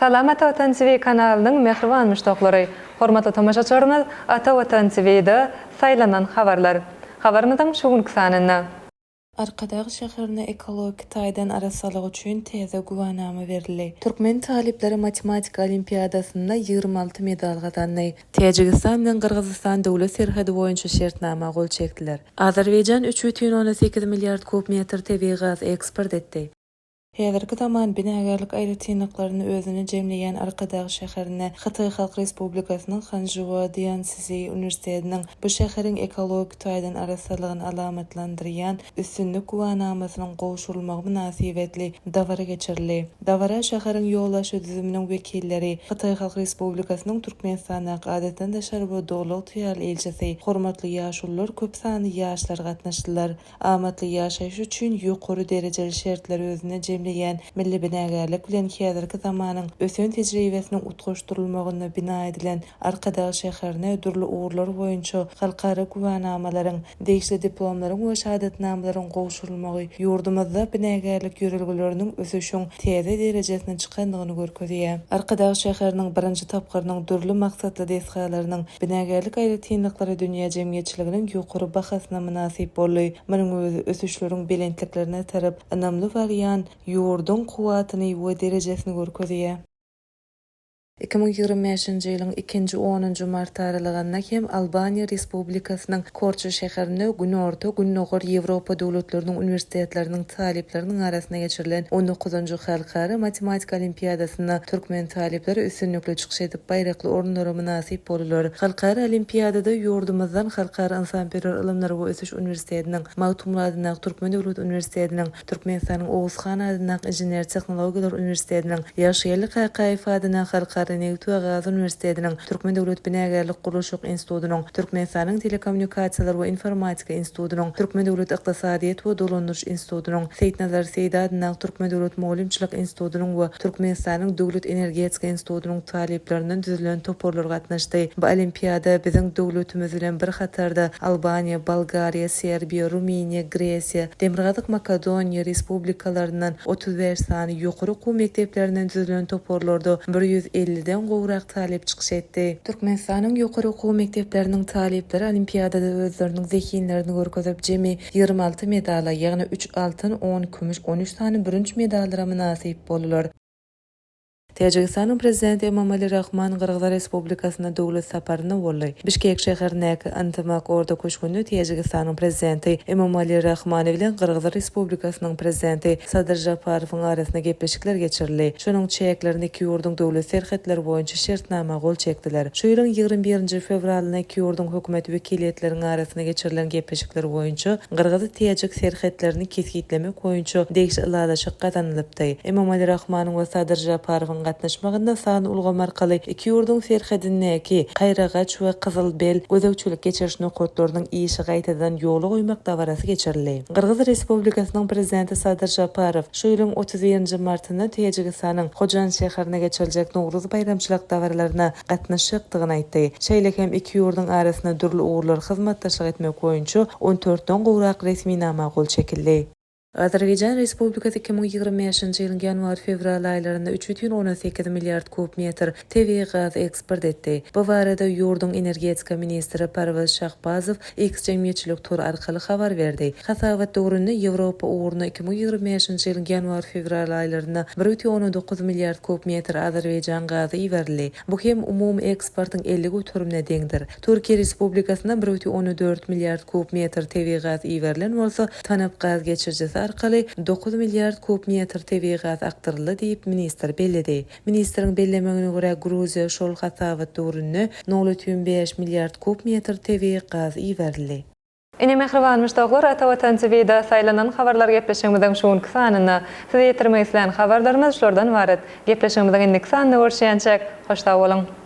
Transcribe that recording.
Salam Ata Watan TV kanalynyň mähriban muşdaklary! Hormatly tomaşaçylarymyz Ata Watan TV-da Saýlanan habarlar habarymyzyň şu günki sanynda. Arkadag şäherine ekologik taýdan arassalyk üçin täze güwänama berildi. Türkmen talyplary matematika olimpiadasynda ýigrimi alty medal gazandy. Täjigistan bilen Gyrgyzystan döwlet serhedi boýunça şertnama gol çekdiler. Azerbaýjan üç bütin ondan sekiz milliard kub metr tebigy gaz eksport etdi. Häzirki zaman binagärlik aýratynlyklaryny özüne jemleýän Arkadag şäherine Hytaý Halk Respublikasynyň Hanžua Dianszhi uniwersitetiniň bu şäheriň ekologik taýdan arassalygyny alamatlandyrýan Üstünlik güwänamasynyň gowşurylmagy mynasybetli dabara geçirildi. Dabara şäheriň ýolbaşçy düzüminiň wekilleri, Hytaý Halk Respublikasynyň Türkmenistandaky Adatdan daşary we Doly ygtyýarly ilçisi, hormatly ýaşulular, köp sanly ýaşlar gatnaşdylar. Amatly ýaşaýyş üçin ýokary derejeli şertleri özünde jemleýän milli binagärlik bilen häzirki zamanyň ösen tejribesiniň utgaşdyrylmagynda bina edilen Arkadag şäherine dürli ugurlar boýunça halkara güwänamalaryň, degişli diplomlaryň we şahadatnamalaryň gowşurylmagy ýurdumyzda binagärlik ýörelgeleriniň ösüşiň täze derejesine çykandygyny görkezýär. Arkadag şäheriniň birinji tapgyrynyň dürli maksatly desgalarynyň binagärlik aýratynlyklary dünýä jemgyýetçiliginiň ýokary bahasyna mynasyp boldy. Munuň özi ösüşleriň belentliklerine tarap ynamly barýan ýurduň kuwwatyny we derejesini görkezýär. Iki müň ýigrimi bäşinji ýylyň ikinji onunjy marty aralygynda hem Albaniýa Respublikasynyň Korça şäherinde Günorta, Gündogar Ýewropa döwletleriniň uniwersitetleriniň talyplarynyň arasynda geçirilen on dokuzynjy Halkara matematika olimpiadasynda türkmen talyplary üstünlikli çykyş edip, baýrakly orunlara mynasyp boldular. Halkara olimpiadada ýurdumyzdan Halkara ynsanperwer ylymlar we ösüş uniwersitetiniň, Magtymguly adyndaky Türkmen döwlet uniwersitetiniň, Türkmenistanyň Oguz han adyndaky Inžener-tehnologiýalar uniwersitetiniň, Ýagşygeldi Kakaýew adyndaky Halkara nebit we gaz uniwersitetiniň, Türkmen döwlet binagärlik-gurluşyk institutynyň, Türkmenistanyň Telekommunikasiýalar we informatika institutynyň, Türkmen döwlet ykdysadyýet we dolandyryş institutynyň, Seýitnazar Seýdi adyndaky Türkmen döwlet mugallymçylyk institutynyň we Türkmenistanyň Döwlet energetika institutynyň talyplaryndan düzülen toparlar gatnaşdy. Bu olimpiada biziň döwletimiz bilen bir hatarda Albaniýa, Bolgariýa, Serbiýa, Rumyniýa, Gresiýa, Demirgazyk Makedoniýa respublikalaryndan otuz bäş sany ýokary okuw mekdeplerinden düzülen toparlarda bir ýüz elliden gowrak talyp çykyş etdi. Türkmenistanyň ýokary okuw mekdepleriniň talyplary olimpiadada özleriniň zehinlerini görkezip, jemi ýigrimi alty medala, ýagny üç altyn, on kümüş, on üç sany bürünç medallara mynasyp boldular. Täjigistanyň Prezidenti Emomali Rahmon Gyrgyz Respublikasyna döwlet saparynda boldy. Bişkek şäherindäki Yntymak orda köşgünde Täjigistanyň Prezidenti Emomali Rahmon bilen Gyrgyz Respublikasynyň Prezidenti Sadyr Žaparowyň arasynda gepleşikler geçirildi. Şonuň çäklerinde iki ýurduň döwlet serhetleri boýunça şertnama gol çekdiler. Şu ýylyň ýigrimi birinji fewralynda iki ýurduň hökümet wekiliýetleriniň arasynda geçirilen gepleşikler boýunça gyrgyz-täjik serhetlerini kesgitlemek boýunça degişli ylalaşyk gazanylypdy. Emomali Rahmanyň we Sadyr Žaparowyň gatnaşmagynda san ulgamy arkaly iki ýurduň serhedindäki Kaýragaç we Kyzylbel gözegçilik-geçiriş nokatlarynyň işi gaýtadan ýola goýmak dabarasy geçirildi. Gyrgyz Respublikasynyň Prezidenti Sadyr Žaparow şu ýylyň otuz birinji martynda Täjigistanyň Hojan şäherinde geçiriljek Nowruz baýramçylyk dabaralaryna gatnaşjakdygyny aýtdy. Şeýle hem iki ýurduň arasynda dürli ugurlar hyzmatdaşlyk etmek boýunça on dörtden gowrak resminama gol çekildi. Azerbaýjan Respublikasy iki müň ýigrimi bäşinji ýylyň ýanwar-fewral aýlarynda üç ýüz on sekiz milliard kub metr tebigy gaz eksport etdi. Bu barada ýurduň energetika ministri Parwez Şahbazow X jemgyýetçilik tor arkaly habar berdi. Hasabat döwründe Ýewropa ugruna iki müň ýigrimi bäşinji ýylyň ýanwar-fewral aýlarynda bir bütin ondan dokuz milliard kub metr Azerbaýjan gazy iberildi. Bu hem umumy eksportyň elli göterimine deňdir. Türkiýe Respublikasyna bir bütin ondan dört milliard kub metr tebigy gaz iberilen bolsa, TANAP gaz geçirijisi arkaly dokuz milliard kub metr tebigy gaz akdyryldy diýip, ministr belledi. Ministriň bellemegine görä, Gruziýa şol hasabat döwründe nol ütün bäş milliard kub metr tebigy gaz iberildi. Ine mähriban muşdaklar Ata Watan TVda saýlanan habarlar gepleşigimiziň şu günki sanynda. Size ýetirmek islän habarlarymyz şulardan ybarat. Gepleşigimiziň indiki sanynda görüşýänçäk, hoş sag boluň!